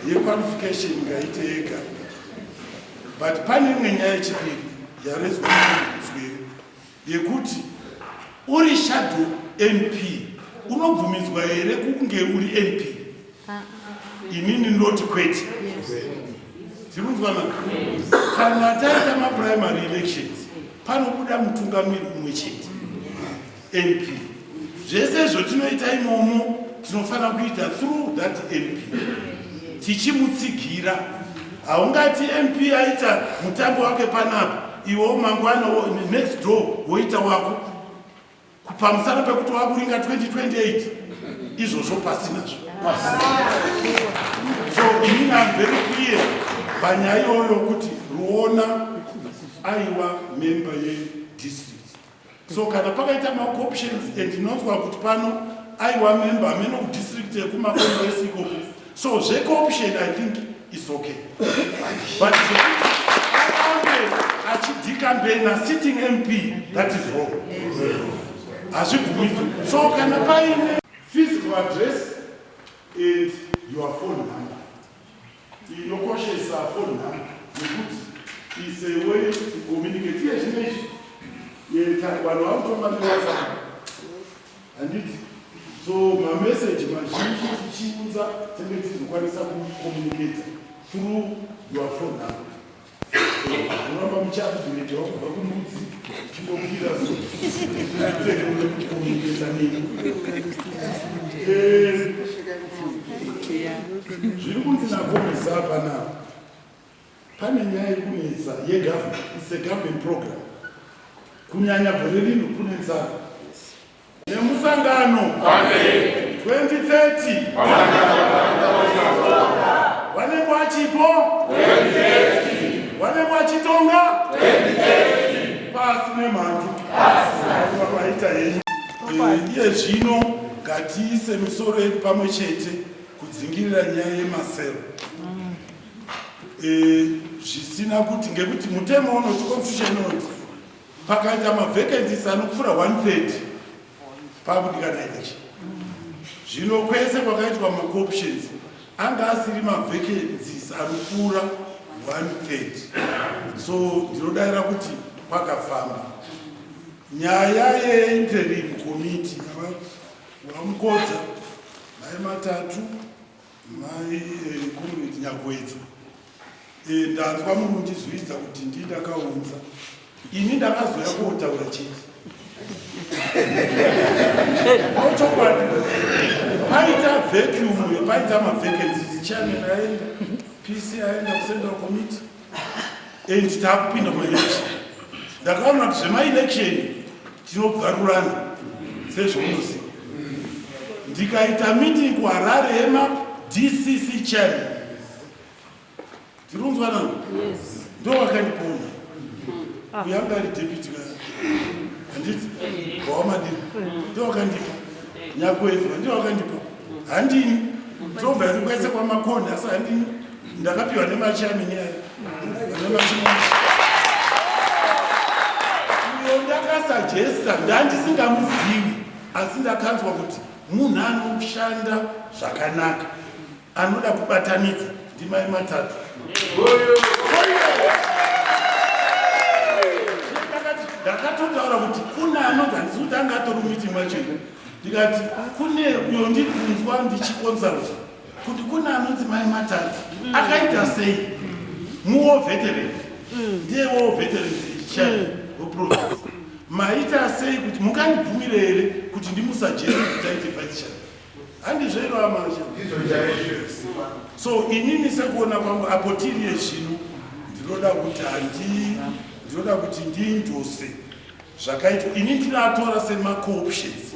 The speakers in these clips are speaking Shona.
yequalification ngaite yega but pane imwe nyaya yechipiri yarezwa msweri yekuti uri shadow mp unobvumidzwa here kunge uri mp inini ndoti kwete zvikunzwana kana taita maprimary elections panobuda mutungamiri umwe chete mp zvese zvotinoita imomo tinofanira kuita through that mp tichimutsigira haungati mp aita mutambo wake panapa iwo mangwana next door woita wako Kupamusana pekuti wakuringa 2028 izvozvo pasi nazvo pasi. So inini I'm very clear panyaya iyoyo kuti Ruona aiwa member yedistrict. So kana pakaita maoptions and ndinonzwa kuti pano aiwa member amene kudistrict yekumakongress ikoko So zve corruption I think is okay. But arambe achidika mbena sitting MP that is wrong. Hazvibvumidzwe. So kana paine physical address and your phone number. Inokoshesa phone number nekuti is a way to communicate. Yes, yes. Vanhu vanotomba newhatsapp handiti so mameseji mazhinji tichiunza tenge tizokwanisa kucommunicata through your phone number unoramba muchakutorejewa kubva kumudzi chindokuira sokucommunicata nini zviri kunzi nakomesa apa navo Pane nyaya yekunetsa yegovernment, it's a government program. Kunyanya gore rino kune nzara. Nemusangano 2030 vanenge vachipo vanenge vachitonga pasi nemhandu vaita henyu iye zvino ngatiise misoro yedu pamwe chete kudzingirira nyaya yemasero eh, zvisina kuti ngekuti mutemo unoti constitution unoti pakaita mavacancies anopfuura 130 pakudikana ichi zvino kwese kwakaitwa macooptions anga asiri mavacancies anopfuura 130 so ndinodaira kuti kwakafamba nyaya yeinterim committee vamukodza mai matatu Mai eh, Comrade Nyagwedza, eh, ndanzwa mundizvidza kuti ndii ndakaunza ini ndakazoya kuotaura chete auchokwadi paita vacuum paita mavacancies chairman aenda pc aenda kucentral committee and takupinda mumaelection ndakaona kuti zvemaelection tinobvarurana sezvaunoziva ndikaita meeting kuharare yema dcc channel tirunzwana ndo wakandipona ah. uyanga ari deputy handiti wawamadiri ndo wakandipa nyakwezwa ndo wakandipa handini tobva ndikwaisa kwamakoni asi handini ndakapiwa nemachamini ayo uyo ndakasajesta ndandisingamuzivi asi ndakanzwa kuti munhu anoshanda zvakanaka anoda kubatanidza ndimai matatu ndakatotaura kuti kune anonzi handisi kuti anga atori muiti mwacho ndikati kune uyo ndiri kunzwa ndichikonsulta kuti kune anonzi mai matadzi mm. akaita sei muwo veteran mm. ndiye wo veteran church weprofes mm. maita sei kuti mungandibvumire here kuti ndimusajese kuti aite vice church handizvo iro amasha so inini sekuona kwangu apo tiriye zvino ndinoda kuti handi ndinoda kuti ndiindose zvakaitwa ini ndinatora semacooptions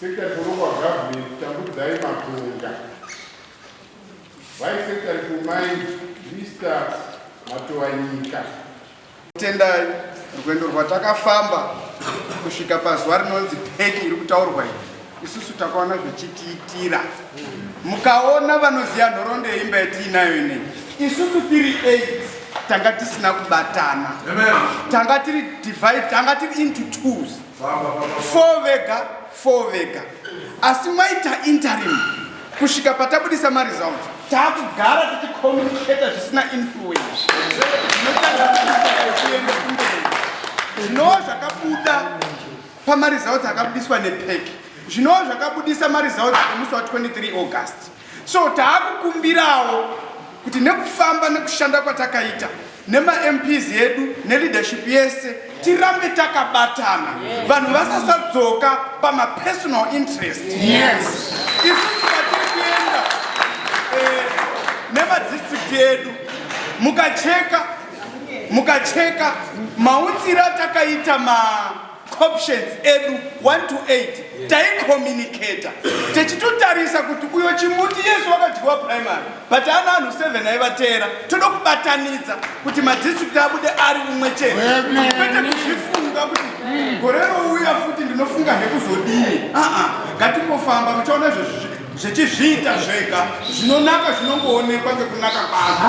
Secretary for local government Tambudzai Matonga, Vice Secretary for Mines Mr. Matowanyika. Tendai rwendo rwatakafamba kusvika pazuva rinonzi peki iri kutaurwa iyi isusu takaona zvichitiitira mukaona vanoziva nhoroondo yeimba yatiinayo inei isusu tiri 8 tanga tisina kubatana tanga tiri divide tanga tiri into twos four vega four vega asi mwaita interim kusvika patabudisa maresult taakugara tichicommunicata zvisina influence zvinova zvakabuda pamaresults akabudiswa nepec zvinova zvakabudisa maresults emusi wa 23 august So taakukumbirawo kuti nekufamba nekushanda kwatakaita nemaMPs edu neleadership yese tirambe takabatana vanhu vasasadzoka pamapersonal interest yes. isusu patiri kuenda eh, nemadistrict edu mukacheka mukacheka mautsira takaita ma Options edu 1 to 8 taicommunicator techitotarisa kuti uyo chimuti yesu wakadyiwa primary but ana anhu 7 aivateera toda kubatanidza kuti madistrict abude ari umwe chete kwete kuzvifunga kuti gore rouya futi ndinofunga hekuzodini aa ngatipofamba muchaona zvezvizvi Zvechizviita zvega zvinonaka zvinongoonekwa ngekunaka kwazvo.